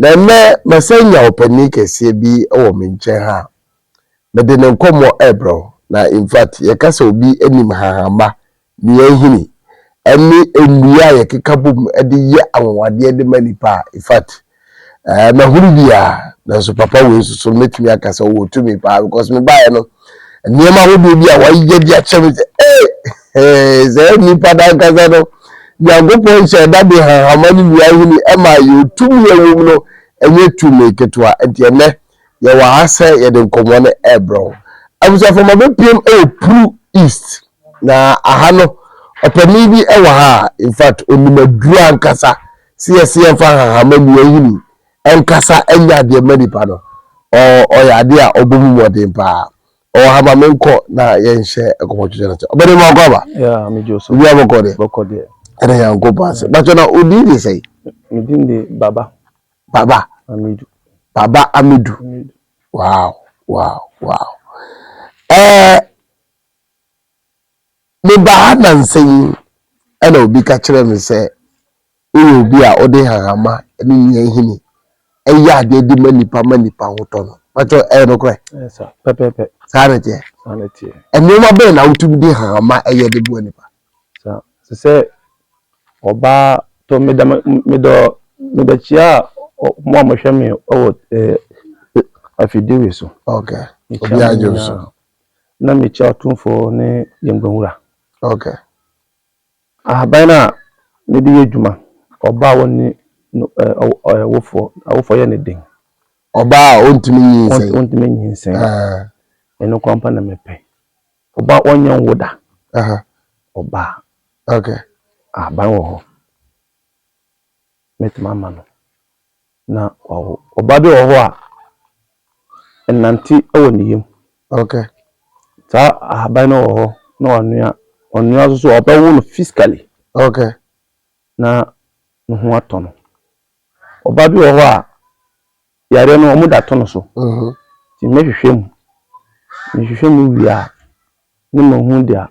Na nnɛ masan nya ɔpanin kɛseɛ bi wɔ me nkyɛn ha a, mede no nkɔmmɔ rebrɛ wo. Na in fact, yɛka sɛ obi nim hahamma Nea ehini ne nnua a yɛkeka bom de yɛ anwonwadeɛ de ma nnipa a, in fact, eh, mahunu biara. Nanso papa wei nso so no, mɛtumi aka sɛ ɔwɔ tumi paa because mebaeɛ no, nneɛma ahodoɔ bi a wɔayɛ de akyɛ me sɛ, ee, eh, sɛ nnipa no ankasa no, Nyankopɔn hyɛɛ da de hahama ne nnua hini maa yɛn. Tumi a ɛwɔ mu no, ɛnyɛ tumi ketewa. Nti ɛnnɛ, Yɛwɔ ha sɛ yɛde nkɔmmɔ no rebrɛ wo. Abusuafo ma bɛpiem wɔ Pru East. Na aha no, ɔpanin bi wɔ ha a, in fact, ɔnim aduru ankasa sɛ yɛse yɛmfa nhanhama nnua nhini nkasa nyɛ adeɛ mma nipa no. Ɔyɛ adeɛ a ɔbɔ mu mmɔden paa. Ɔwɔ ha ma menkɔ na yɛnhyɛ nkɔmmɔtwetwe no ase. Ɔbɛde ma ɔkɔ aba? Yeah, me Joe so. Biribiara bɔkɔ deɛ? Bɔkɔ deɛ. Ɛna Nyankopɔn ase. Bàtchɔ na odin de sɛn? Me din de Baba. Baba Amidu. Baba Amidu. Wow, wow, wow. Eh, me ba ha na nsɛnyi ɛna obi ka kyerɛ me sɛ woyɛ obi a wode hahama ne nnuan hini ɛyɛ adeɛ de ma nipa ma nipa ho tɔ no. Bɛtɔ ɛyɛ no korɛ? Ɛyɛ sa, pɛpɛpɛ. Saa ne teɛ? Saa ne teɛ. Nneɛma bɛn na wotumi de hahama ɛyɛ de boa nipa? Saa. Te sɛ ɔbaa tɔ me da me dɔ me da kyia a mo a mohwɛ me wɔ ɛɛ afidie so. Okay. Obi agye so. Na mekyia ɔtomfoɔ ne yɛn gbanwura. Okay. Ahaban a mede yɛ adwuma ɔbaa a wɔne awofoɔ awofoɔ yɛ ne den. Ɔbaa a ɔntumi nyinsɛn. Ɔntumi nyinsɛn. Ɛno kwan pa na mepɛ. Ɔbaa ɔnyɛ nwo da. Aha. Ɔbaa. Okay. Ahaban wɔ hɔ. Mɛtumi ama no na wawo. Ɔbaa bi wɔ hɔ a ɛnante wɔ ne yam. Okay. Saa ahaban no wɔ hɔ na wanoa ɔnoa nso so a ɔbɛwo no physically. Okay. Na ne ho atɔ no. Ɔbaa bi wɔ hɔ a Yareɛ no ɔmo da to no so. Nti mɛ hwehwɛ mu. Me hwehwɛ mu wie a ne ma hu deɛ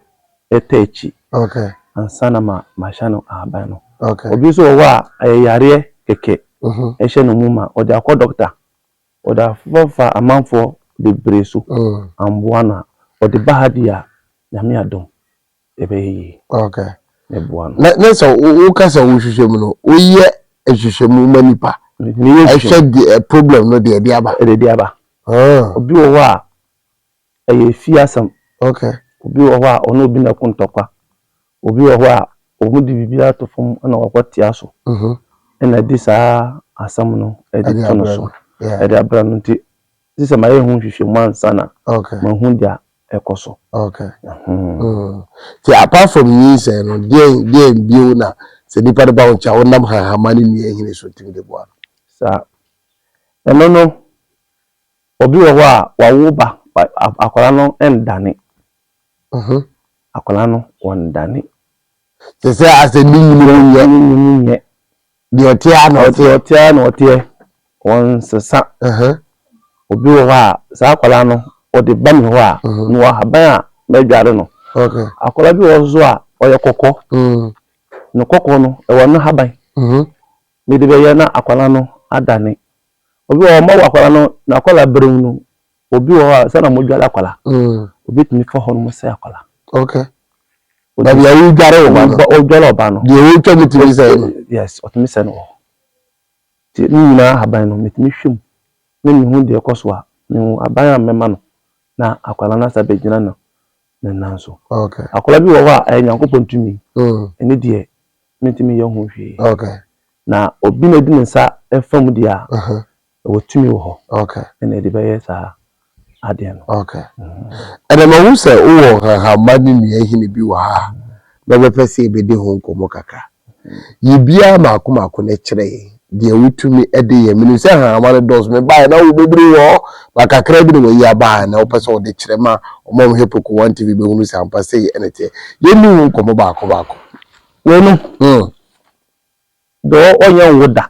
ɛtɔ akyi. Ansa na ma ma hyɛ no ahaban no. Obi nso wɔ hɔ a ɛyɛ yareɛ kɛkɛ ɛhyɛ no mu ma ɔde akɔ dɔkta. Ɔde afa fa amanfoɔ bebree so. Amboa no a ɔde ba ha deɛ a Nyame adom ɛbɛyɛ yie. Okay. Mɛboa no. Na na sɛ woka sɛ wohwehwɛ mu no, woyɛ nhwehwɛmu ma nipa. Meyɛ nhwehwɛmu. Ɛhwɛ de eh, problem no deɛ ɛde aba. Ɛde de aba. Ah. Obi wɔ hɔ a, ɛyɛ fie asɛm. Okay. Obi wɔ hɔ a, ɔne obi na ɛko ntɔkwa. Obi wɔ hɔ a, wɔn de biribi ato fam na wɔkɔ tea so. Mhm. Ɛna ɛde saa asɛm no ɛde to no so. Ɛde abrɛ no nti. Gye sɛ mayɛ ho nhwehwɛmu ansa na mahu deɛ ɛkɔ so. Nti apart from nyinsɛn no, deɛn bio na sɛ nipa no ba wo nkyɛn a wonam hahama ne nnua nhini so tumi de boa no? Saa. Ɛno no, obi wɔ hɔ a wawo ba, akwadaa no nnane. Akwadaa no ɔnnane. Te sɛ asɛ ne nwunu mu nyɛ. Ne nwunu mu nyɛ. Deɛ ɔteɛ ara na ɔteɛ. Ɔteɛ ara na ɔteɛ. Wɔnsesa. Obi wɔ hɔ a, saa akwadaa no, ɔde ba me hɔ a, mewɔ ahaban a mɛdware no. Akwadaa bi wɔ hɔ nso a, ɔyɛ kɔkɔɔ. Ne kɔkɔɔ no, ɛwɔ ne haban. Mede bɛyɛ na akwadaa no adane. Obi wɔ hɔ, mawɔ akwadaa no, n'akwadaa berɛm no, obi wɔ hɔ a sɛ na mo dware akwala mm. obi tumi fa hɔ no mo sɛ akwala. okay baabi a wodware ɔba no wodware ɔba no deɛ wotwa mu tumi sɛ no yes ɔtumi sɛ no wɔ hɔ nti ne nyinaa ahaban no metumi hwɛ mu ne mehu deɛ ɛkɔ so a mehu aban a mɛma no na akwala no asa bɛgyina no ne nan so akwala bi wɔ hɔ a ɛyɛ nyankopɔn tumi mm. ɛne deɛ mentumi yɛ ho hwee na obi na di ne nsa fa mu deɛ a Ɛwɔ tumi wɔ hɔ. Okay. Ɛna ɛde bɛyɛ saa adeɛ no. Okay. Ɛna mahu sɛ wowɔ nhahamma ne nnuanhini bi wɔ ha a mɛbɛpɛ sɛ yɛbɛdi ho nkɔmmɔ kakra. Yi biara mmaako mmaako na kyerɛ yɛn deɛ wotumi de yɛ. Menim sɛ nhahamma no dɔɔso. Mebaeɛ na wo bobiri wɔ hɔ, but kakra bi na wayi aba ha na wopɛ sɛ wode kyerɛ ma wɔn a wɔhwɛ Preko One TV bɛhunu sɛ ampa sei na ɛteɛ. Yɛnni ho nkɔmmɔ baako baako. Wei no, deɛ wɔnyɛ nwo da.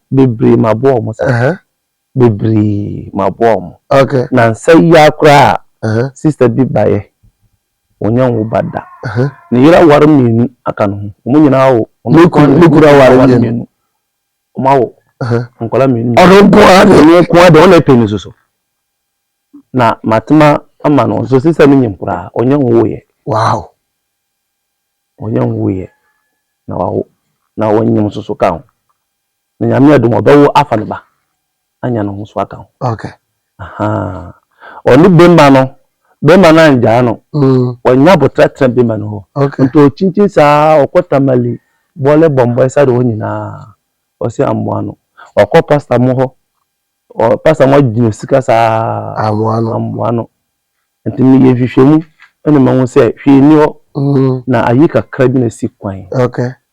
Bebree maboa ɔmo saa. Ɛhɛɛ. Bebree maboa ɔmo. Ok. Nansa yi ara koraa. Ɛhɛɛ. Sister bi baeɛ, ɔnnya nwo ba da. Ɛhɛɛ. Ne yere aware mmienu aka ne ho. Ɔmo nyinaa awo. Ne kunu, ne kunu aware mmienu. Ɔmo awo. Ɛhɛɛ. Nkwadaa mmienu mmienu. Ɔno nko ara deɛ. Ɔno nko ara deɛ, ɔna ɛpɛ ne su so. Na matema ama no, nso sister no nyim koraa, ɔnnya nwoeɛ. Wow. Ɔnnyɛ nwooyɛ na ɔawo, na ɔnnyim so so kã ho. Na Nyame adom a, ɔbɛwo afa no ba anya no ho so akã ho. Okay. Ahaa. Ɔne bema no, bema no anngyaa no. Mm. Ɔnya aboterɛ tsena bema no hɔ. Okay. Nto ɔkyinkyin saa, ɔkɔ Tamale, Bole, Bɔmbɔe, Sado hɔ nyina, ɔse amboa no. Ɔkɔ pastor mo hɔ, ɔ, pastor mo agye no sika saa, amboa no. Nti meyɛ nhwehwɛmu na mahu sɛ hwee nni hɔ na ayi kakra bi na asi kwan.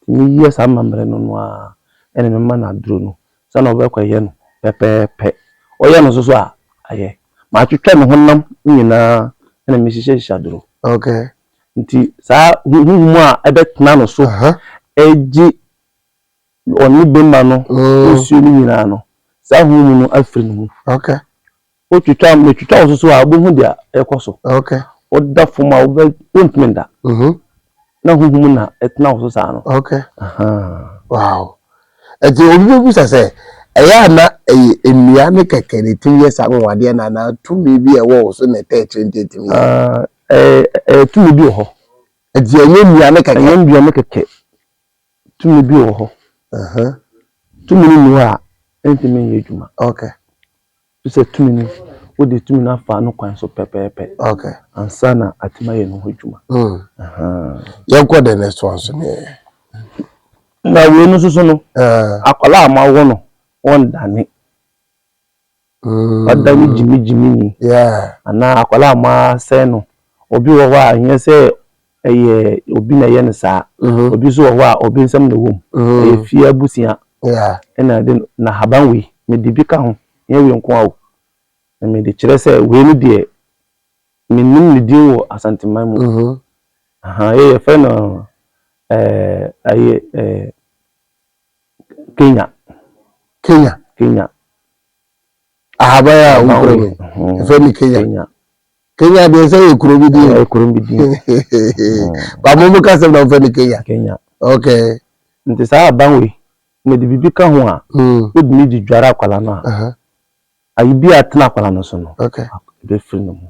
Nti meyɛ saa amammerɛ no no ara na mema no aduro no sɛ na ɔbɛkɔyɛ no pɛpɛɛpɛ. Ɔyɛ no nso so a, ayɛ. Matwitwa ne honam nyinaa na mehyehyɛhyehyɛ aduro. Nti saa huhum a ɛbɛtena no so agye ɔne bɛma no nsuo no nyinaa no, saa huhum no afiri ne mu. Wotwitwa a, metwitwa wo soso a, wobɛhu deɛ ɛrekɔ so. Okay. Woda fam a, wobɛ wontumi nda. Mhm. Na huhum na ɛtena wo so saa no. Okay. Ahaa. Wow. Ɛti obi bɛbusa sɛ, ɛyɛ a na ɛyɛ nnua ne kɛkɛ na ɛtumi yɛ saa anwanwadeɛ no anaa tumi bi a ɛwɔ wo so na ɛtaa akyire nti ɛtumi yɛ? Ah, ɛɛ, ɛɛ, tumi bi wɔ hɔ. Ɛti ɛnyɛ nnua ne kɛkɛ? Ɛnyɛ nnua ne kɛkɛ. Tumi bi wɔ hɔ. Aha. Tumi no nni hɔ a, ɛntumi nyɛ adwuma. Okay. Ɛfiri sɛ tumi no, wode tumi no afa no kwan so pɛpɛɛpɛ ansa na atumi ayɛ ne ho adwuma. Yɛnkɔ the next one so ne yɛyɛ. Na wei no nso so no, akwadaa a moawo no, wɔndane. Ɔdane gyimigyimi ni. Anaa akwadaa a moasɛe no, obi wɔ hɔ a ɛnyɛ sɛ Ɛyɛ obi na ɛyɛ no saa. Mhm. Obi nso wɔ hɔ a obi nsɛm na ɛwɔ mu. Mhm. Ɛyɛ fie abusua Yeah. ɛna ɛde no na haban wei mede bi ka ho nyɛ wei nko a o. Na mede kyerɛ sɛ wei no deɛ menim ne din wɔ Asanteman mu. Mhm. Aha, yɛ yɛfrɛ no ɛɛ ɛyɛ ɛɛ Kenya Kenya. Kenya Ahaban a haban wofrɛ wei. no. Mhm. Yɛfrɛ no Kenya. Kenya. Kenya deɛ sɛ yɛ kuro bi din. Ɛyɛ kuro bi din. Ba mo mo ka sɛm na mo fɛ no Kenya. Kenya. Okay. Nti saa aban wei na de biribi ka ho a. Ebitumi hmm. de dware akwala no a. Ayi bi a tena akwala no so no. Okay. Ebe firi ne mu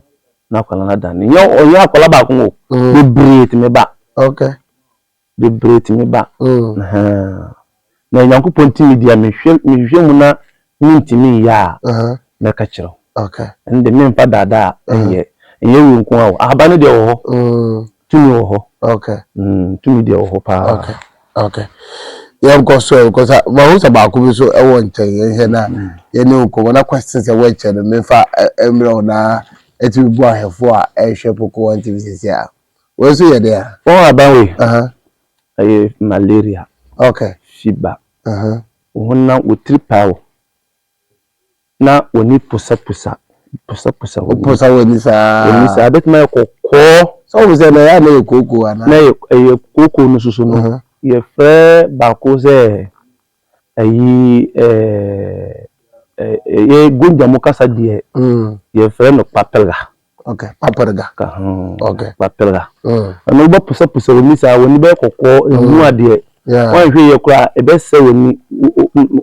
na akwala no ada ne. Nyɛ ɔnyɛ akwala baako o. Hmm. Bebree tumi ba. Okay. bebree tumi ba. Na Nyankopɔn tumi deɛ mehwehwɛ mu na mentumi nyɛ a, mɛka kyerɛ wo. Ɛno deɛ memfa daadaa nyɛ. Ɛnyɛ wei nko ara o, ahaba no deɛ wɔ hɔ, tumi wɔ hɔ. Tumi deɛ wɔ hɔ paa. Okay. Yɛnkɔ so yɛnkɔ so. Mahu sɛ baako bi nso wɔ nkyɛn. Yɛnhwɛ na yɛne wo nkɔmmɔ na question sɛ wɔakyɛ no memfa mmerɛ wo na atumi bu ahwɛfoɔ a ɛrehwɛ Poco One TV seesei a. Wei nso yɛ dɛn a? Wɔn ahaban wei, ɛyɛ malaria, fever, wɔn na wɔtiri paa wo na wɔn ani posaposa, posaposa wɔn ani. Posa wɔn ani saa. Wɔn ani saa, ɛbɛtumi ayɛ kɔkɔɔ. Sɛ wɔn sɛ na ɛyɛ a na ɛyɛ kooko anaa? Na ɛyɛ kooko no soso no, yɛfrɛ baako sɛ Ayi ɛɛ Gonja mu kasa deɛ yɛfrɛ no papelga. Ok, papelga. Ok. Papelga. Ɛno wobɛposaposa w'ani saa, w'ani bɛyɛ kɔkɔɔ, ɛhu adeɛ. Woanhwɛ yie koraa ɛbɛsɛ w'ani,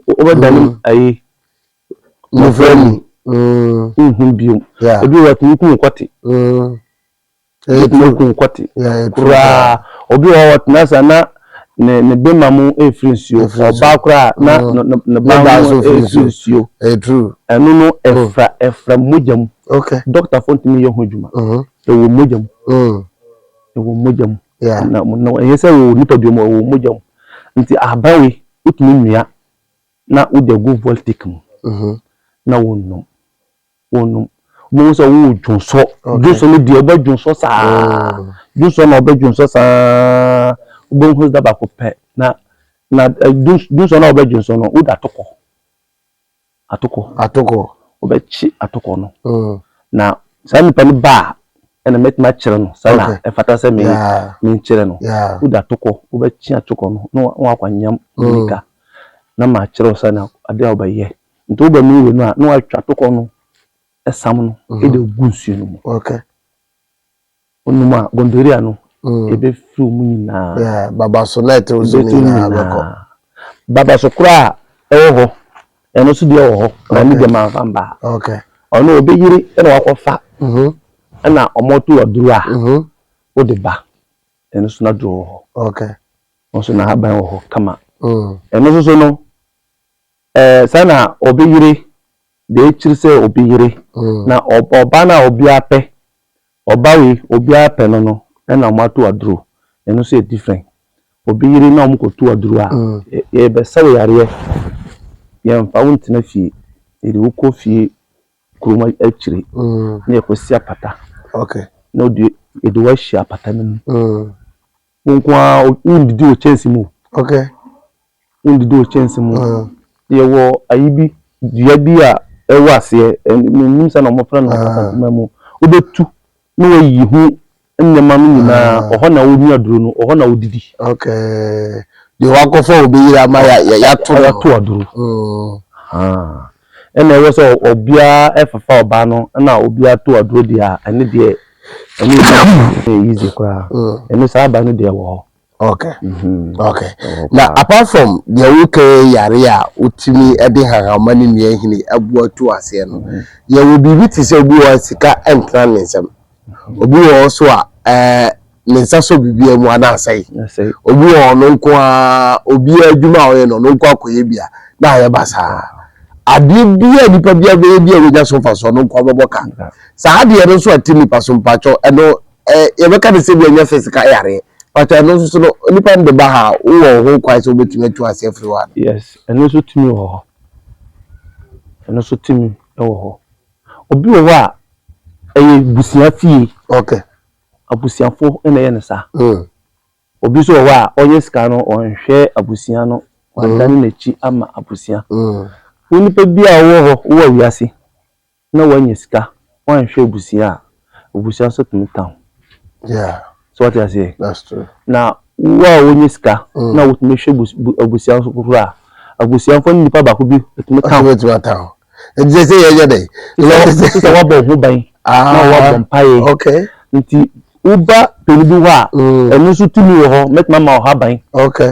wobɛdane ayi mmɔfra mu, wonhu bio. Ebi wɔ hɔ yɛtumi kum kwati. Ɛtena gu nkwati koraa. Obi wɔ hɔ ɔtena ase a na ne bema mu refiri nsuo. Ɔbaa koraa a na ne baa mu refiri nsuo. Ɛno no ɛfra ɛfra mogya mu. Dɔktafoɔ ntumi nyɛ ho adwuma. Ɛwɔ mogya mu. Ɛwɔ mogya mu. Ɛnyɛ sɛ ɛwɔ nipadua mu, ɛwɔ mogya mu. Nti ahaban wei wotumi nua na wode agu voltic mu na wonom. wɔnom. Wobɛhu sɛ wowɔ dwonsɔ. Dwonsɔ no deɛ wobɛ dwonsɔ saa. Mm. Dwonsɔ na wobɛ dwonsɔ saa. Wobɛhu sɛ da baako pɛ na na eh, dwonsɔ na wobɛ dwonsɔ no wode atokɔ. Atokɔ. Atokɔ. Wobɛkye atokɔ no. Mm. Na saa nipa no ba a ɛna mɛtumi akyerɛ no sɛ na ɛfata sɛ me menkyerɛ no. Wode atokɔ wobɛkye atokɔ no na wakɔ anyam mm. nika. Na makyerɛ wo sɛ na adeɛ a wobɛyɛ. Nti wo bɛnom wei no a na watwa tokɔ no sam no mhm. de gu nsuo no mu. Okay. Wonom a gonorrhea no mm. ɛbɛfiri mu nyinaa. Baba so na ɛtɛw so nyinaa bɛkɔ. Baba so koraa ɛwɔ hɔ ɛno so deɛ wɔ hɔ na ne deɛ manfa mbaa. Okay. Ɔno ɔbɛyere ɛna wakɔfa mhm. ɛna ɔmɔto aduro a mhm. wode ba ɛno so na duro wɔ hɔ. Okay. Ɔso na haban wɔ hɔ kama. Mm. Ɛno nso so no. Eh, sɛ na obi yere deɛ ekyiri sɛ obi yere mm. na ɔba na obi apɛ ɔba wei obi apɛ no no ɛna wɔn ato aduro ɛno nso yɛ different obi yere na wɔn kɔ to aduro a mm. yɛbɛsɛw yareɛ yɛnfa wo ntena fie yɛde wo kɔ fie kurom akyire mm. na yɛkɔsi apata okay. na yɛde wo ahyia apata no mu Wo nko ara wondidi wɔ kyɛnse mu. Okay. Wondidi wɔ kyɛnse mu. Uh. Yɛwɔ ayi bi dua bi a ɛwɔ aseɛ menim sɛ na wɔfrɛ no asantuma mu. Wobɛtu na wayi ho nneɛma no nyinaa ɔhɔ na wonua aduro no ɔhɔ na wodidi. Okay. Deɛ wakɔfa wɔ bɛyiri ama yɛato no. Yɛato aduro. Ɛna ɛwɔ sɛ obiara fefa ɔbaa no na obiara to aduro deɛ a ɛne deɛ ɛne ɛyɛ easy koraa. Ɛno saa aba no deɛ wɔ hɔ. Okay. Okay. Na apart from deɛ woka yare a wotumi de hahama ne nnuanhini aboa tu aseɛ no, yɛwɔ biribi te sɛ obi wɔ hɔ a sika ntena ne nsam. Obi wɔ hɔ so a ɛɛ ne nsa sɔ biribiara mu a na asɛe. Obi wɔ hɔ ɔno nko ara obiara adwuma a ɔyɛ no ɔno nko akɔyɛ bi a na ayɛ basaa. Adeɛ bi a nipa biara bɛyɛ bi a wɔnya so mfasoɔ ɔno nko ara bɛbɔ ka. Saa adeɛ no nso a ɛte nipa so mpakyɛw ɛno ɛɛ yɛbɛka no sɛ bi a ɛnyɛ physical yareɛ mpakyɛw ɛno nso so no nipa no de ba ha a wowɔ wo ho kwan sɛ wobɛtumi atu aseɛ afiri hɔ anaa? Yes ɛno nso tumi wɔ hɔ. Ɛno nso tumi wɔ hɔ. Obi wɔ hɔ a, ɛyɛ abusua fie. Okay. Abusuafo na ɛyɛ no saa. Mm. Obi nso wɔ hɔ a, ɔnyɛ sika no, ɔnhwɛ abusua no, wadane mm. n'akyi ama abusua. Mm. Wo nipa bi a wɔ hɔ, wɔ wiase, na wanya sika, wanhwɛ abusua a, Obusua nso tumi ka ho. Yeah. So wate aseɛ? That's true. Na wo a wonyɛ sika mm. na wotumi hwɛ abusua nso foforɔ a abusuafoɔ ne nipa baako bi tumi ka ho. Wotumi ata ho. Nti sɛ sɛ yɛnyɛ dɛ. Sɛ wabɔ ho ban ah, na wabɔ mpaeɛ. Okay. Nti woba pɛni bi hɔ a mm. ɛno nso tumi wɔ hɔ mɛtumi ama ɔha ban. Okay.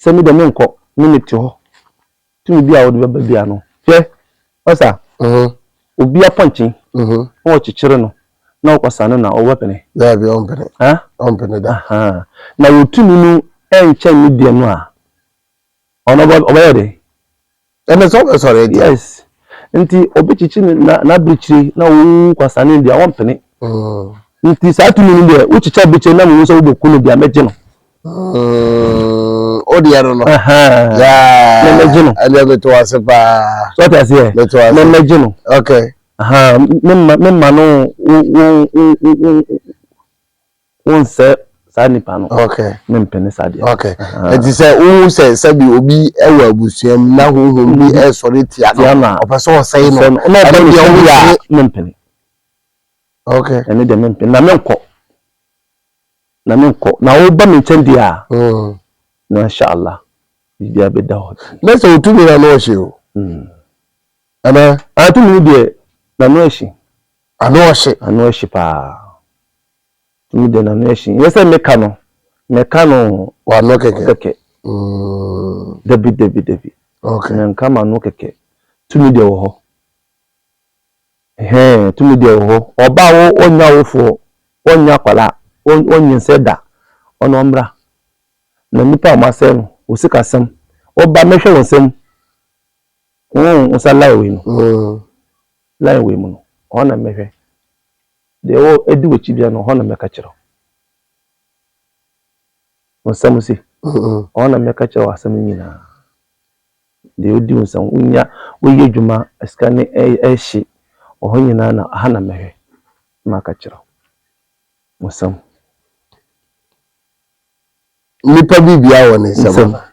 Sɛ me deɛ menkɔ me mete hɔ tumi bi a wode bɛba bia no hwɛ ɔsa obi apɔnkye na wɔkyekyere no na ɔkɔsa no na ɔbɛpene daabi ɔmpene ɔmpene da na wɔtumi no ɛnkyɛn ne deɛ no a ɔno ɔbɛyɛ dɛ Ɛnɛ sɛ wobɛsɔre a yes nti obi kyekye n'abirekyire na ɔwu kwasane deɛ ɔmpene mm. nti saa tumi no deɛ wokyekye abirekyire na mehu sɛ wobɛku no deɛ mɛgye no mm, o deɛ no no mɛgye no ɛdeɛ meto ase paa so ɔte aseɛ mɛgye no okay memma no wonsɛ saa nipa no okay ne mpene saa deɛ okay ɛti sɛ wohu sɛ sɛbi obi ɛwɔ abusua mu na honhom bi mm-hmm. ɛsɔre tia no ɔpɛ sɛ ɔsɛe no ɛne deɛ wo yɛ a ne mpene okay ɛne deɛ me mpene na menkɔ na menkɔ na woba me nkyɛn deɛ a mm. na inshallah biribi abɛda hɔ na sɛ wotumi na no ɔhye o mm. anaa atumi deɛ na no ahyi Ano ɔhye. Ano ɔhye paa. Tumi dɛ no ano ɔhye. Nyɛ sɛ me ka no, me ka no o. W'ano kɛkɛ. Kɛkɛ. Dabi dabi dabi. Okay. Me nka m'ano kɛkɛ. Tumi dɛ wɔ hɔ. Hɛn, tumi dɛ wɔ hɔ. Ɔbaa wo, ɔnya wo foɔ, ɔnya akwala, ɔnyin sɛ da. Ɔno ɔmbra. Na nipa a ɔmo asɛe no, wo sika sɛm. Ɔba mɛhwɛ wo nsɛm. Wo nsa lie wei no. Line wei mu no, hɔ na mɛhwɛ. Deɛ ɛwɔ ɛdi w'akyi biara no, hɔ na mɛka kyerɛ wo. Wo nsɛm se, hɔ na mɛka kyerɛ wo asɛm nyinaa. Deɛ ɔdi wo nsɛm, wonya, woyɛ adwuma, sika ne ɛhye, wɔ hɔ nyinaa na ha na mɛhwɛ na maka kyerɛ wo. Wo nsɛm. Nipa biribiara wɔ ne nsɛm ana?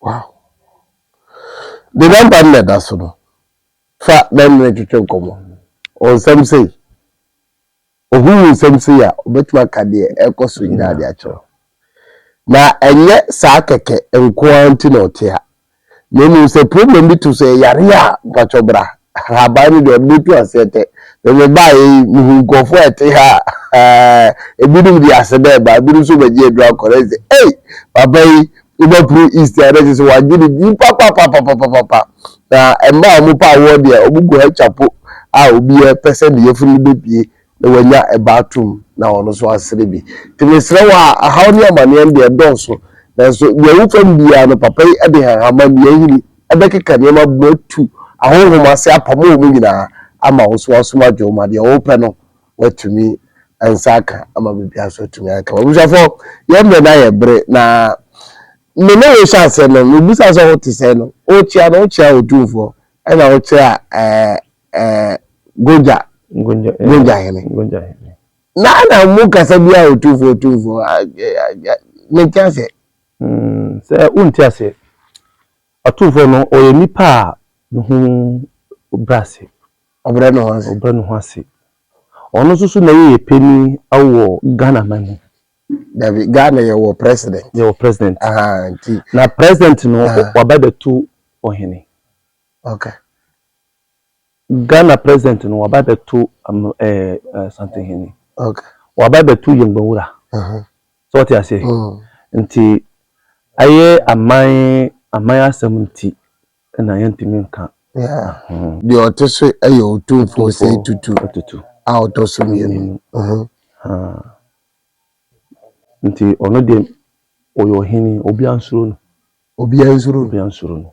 Wow! De namba no na ɛda so no, fa na ɛne no ntwetwe nkɔmmɔ. Wɔ nsɛm sei, ohu wo nsɛm sei a, obetumi aka deɛ ɛrekɔ so nyinaa de akyerɛ wo. Na ɛnyɛ saa kɛkɛ nko ara nti na ɔte ha, na mmom sɛ problem bi to so, ɛyɛ yareɛ a, mpakyɛw bra, Haban no deɛ mɛtu aseɛ tɛ. Me mebaeɛ yi, mehuu nkurɔfoɔ a ɛte ha a, ebinom de aseda reba, ebinom nso bɛgye aduro akɔ. Na ɛsɛ, ei, papa yi, wobɛporo East a, na ɛsɛ sɛ wɔagye ne din papapapapapa. Na mmaa a wɔpɛ awoɔ deɛ, wɔgu ha chapo a obiara pɛ sɛ ne yafunu bɛpue. na wanya ɛba atom na ɔno nso asere bi. Nti mesrɛ wo a, ahaw ne amaneɛ no deɛ ɛdɔɔso, nanso deɛ ɛwɔ fam biara no papa yi de nhanhamma nnua nhini bɛkeka nneɛma abom atu ahonhom ase apamo wɔn nyinaa ama wo nso w'asom adwo wo ma deɛ wopɛ no woatumi nsa aka ama biribiara nso atumi ayɛ kama. Abusuafoɔ yɛn mmerɛ no ayɛ bere na me ne wo hyɛ aseɛ no mebusaa sɛ wote sɛn no wokyea no wokyea Otumfoɔ ɛna wokyea ɛɛ Gonja Gonja hene na na mu kasa bi a otumfo otumfo ne nti ase. Mm, sɛ wonti ase atumfo no ɔyɛ nipa a ne ho brɛ ase ɔbrɛ ne ho ase ɔbrɛ ne ho ase ɔno nso so na yɛyɛ panyin wɔ ghana man mu dabi ghana yɛwɔ president yɛwɔ president nti na president no wabɛbɛto ɔhene okay Ghana president no waba bɛto um, ɛɛ eh, eh, Asante Hene. Okay. Waba bɛto Yɛngbɛnwura. Uh-huh. So wɔte aseɛ. Mm. Nti ayɛ aman aman asɛm nti na yɛntumi nka. Yeah. Mm. Deɛ ɔte so yɛ otumfoɔ sɛ tutu. Tutu. A ɔtɔ so mmienu. Uh-huh. Uh. Nti ɔno deɛ ɔyɛ ɔhene obi ansuro no. Obi ansuro no. Obi ansuro no.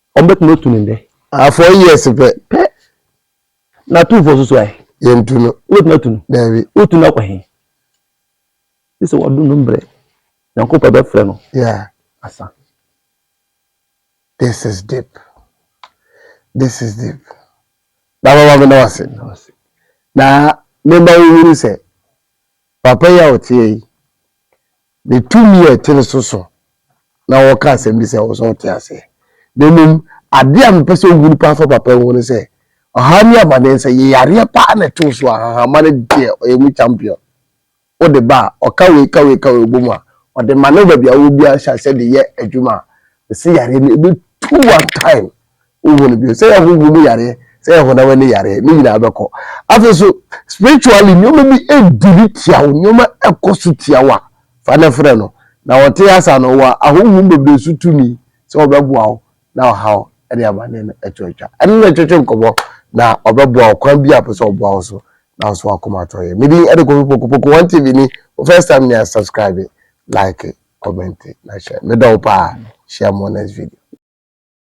Wɔn bɛ tena otu ne ndɛ. Ah four years pɛ. Pɛ. Na tu four soso ayɛ. Yɛ ntu no. Wo bɛ tena tu no. Dɛbi. O tu no akɔ he. Sisi wɔ do no mbrɛ. Nyanko pɛ bɛ frɛ no. Yeah. Asa. This is deep. This is deep. Na mama mi na wase. Na wase. Na mema wo huru sɛ. Papa yi a ɔteɛ yi. Ne tumi a ɛte no so so na ɔka asɛm bi sɛ ɛwɔ sɛ ɔte aseɛ. Na mmom, adeɛ a mepɛ sɛ ɔhu no paa fa papa ho ne sɛ, ɔhaw ne amaneɛ sɛ yɛ yareɛ paa na ɛtoo so a, ahahamma no deɛ ɔyɛ mu champion. Wode ba a, ɔka wei ka wei ka wei bɔ mu a, ɔde ma no baabi a wowɔ biara hyɛ aseɛ de yɛ adwuma a, mese yareɛ no ɛbɛtu one time wonhu no bio sɛ yɛ honhom mu yareɛ sɛ yɛ honam ani yareɛ ne nyinaa bɛkɔ afei so spiritually nneɛma bi ɛdiri tia wo nneɛma ɛkɔ so tia wo a fa ne frɛ no na wɔte asa no wɔ ahonhom bebree so tumi sɛ wɔbɛboa wo na ɔhaw ɛde amanneɛ no ɛto atwa ɛne na ɛtwetwe nkɔmmɔ na ɔbɛboa wo kwan bi a pɛ sɛ ɔboa wo so na nso akoma atɔ yɛ medin ɛde kɔfi pokopoko wɔn tv ni wo first time ni a subscribe like comment na hyɛ medɔ wo paa hyia mo next video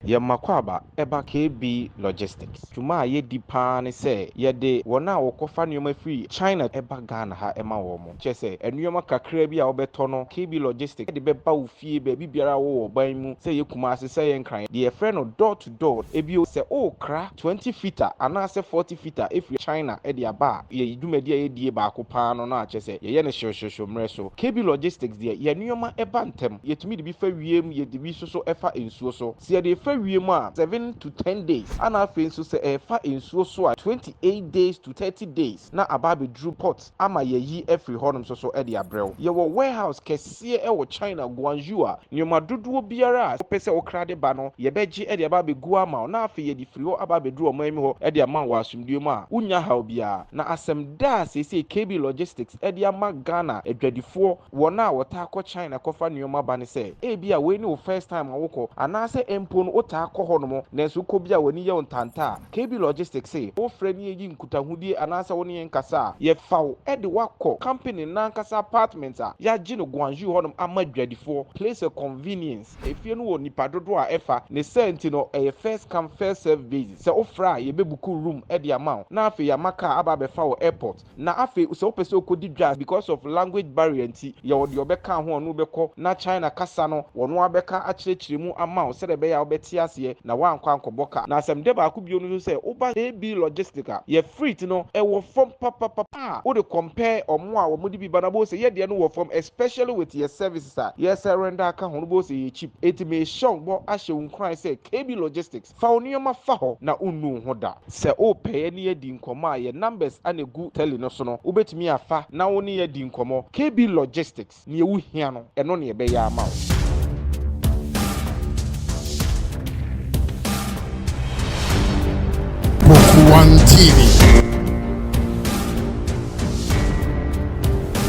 Yɛn Makwaba ba KB Logistics. Dwuma a yɛdi pa ara ne sɛ yɛde wɔn a wɔkɔfa nneɛma firi China ba Ghana ha ma wɔn. Kyerɛ sɛ, nneɛma kakraa bi a wobɛtɔ no, KB Logistics de bɛba wo fie baabi biara a wowɔ ɔban mu, sɛ ɛyɛ Kumasi, sɛ ɛyɛ Nkran, deɛ yɛfrɛ no door to door. Bio, sɛ worekra twenty fitter anaasɛ forty fitter afiri China de aba a, yɛn dwumadie a yɛdie baako pa ara no, no a kyerɛ sɛ, yɛyɛ no hyewhyewhyew mmerɛ so. KB Logistics deɛ, yɛn nneɛma ba ntɛm. Yɛtumi de bi fa wiem, yɛde bi nso so fa nsuo so. Sɛ yɛde refa wiem a, seven to ten days, ɛna afei nso sɛ ɛrefa nsuo so a, twenty eight days to thirty days na aba abɛduru port ama yɛayi afiri hɔnom nso so de abrɛ wo. Yɛwɔ warehouse kɛseɛ wɔ China, Guangzhou a nneɛma dodoɔ biara a wopɛ sɛ wokra de ba no, yɛbɛgye de aba abɛgu ama wo na afei yɛde firi hɔ aba abɛduru ɔman mu hɔ de ama wo wɔ asomdwoeɛ mu a wonnya haw biara. Na asɛm da a seesei KB Logistics de ama Ghana adwadifoɔ, Wɔn a wɔtaa kɔ China kɔfa nneɛma ba no sɛ, ebia wei ne wo first time a wokɔ, anaasɛ mpo no wotaa kɔ hɔnom nanso wokɔ bi a w'ani yɛ wo ntanta a, KB Logistics se, wofrɛ na yeyi nkutahodie anaasɛ wo ne yɛn kasa a, yɛfa wo de wo akɔ company no ankasa apartment a yɛagye no Guangzhou hɔnom ama adwadifoɔ, place of convenience. Efie no wɔ nnipa dodoɔ a ɛfa, ne saa nti no ɛyɛ first come first serve basis, sɛ wofrɛ a yɛbɛbuku room de ama wo na afei yɛama kaa aba abɛfa wo airport. Na afei sɛ wopɛ sɛ wokɔdi dwa because of language barrier nti, yɛwɔ deɛ ɔbɛka ho a ɔne wo bɛkɔ na China kasa no ɔno ara bɛka akyerɛkyerɛ mu ama wo sɛdeɛ ɛbɛyɛ a wobɛte aseɛ na woankɔ ankɔbɔ ka. Na asɛmdɛ baako bio no nso sɛ woba AB Logistic a, yɛ freight no ɛwɔ fam papapapa a wode compare wɔn a wɔde bi ba no a wobɛhu sɛ yɛ deɛ no wɔ fam especially with yɛ services a yɛsɛ render aka ho no wobɛhu sɛ ɛyɛ cheap. Enti mehyɛ wo bɔ ahyɛ wo nkuran sɛ KB Logistics, Fa wo nneɛma fa hɔ na wonnu wo ho da. Sɛ wopɛ yɛ ne yɛadi nkɔmmɔ a, yɛn numbers na ɛgu tele no so no, wobɛtumi afa na wo ne yɛn adi nkɔmmɔ. KB Logistics, neɛ wo hia no, ɛno na yɛbɛyɛ ama wo. Kpokua TV.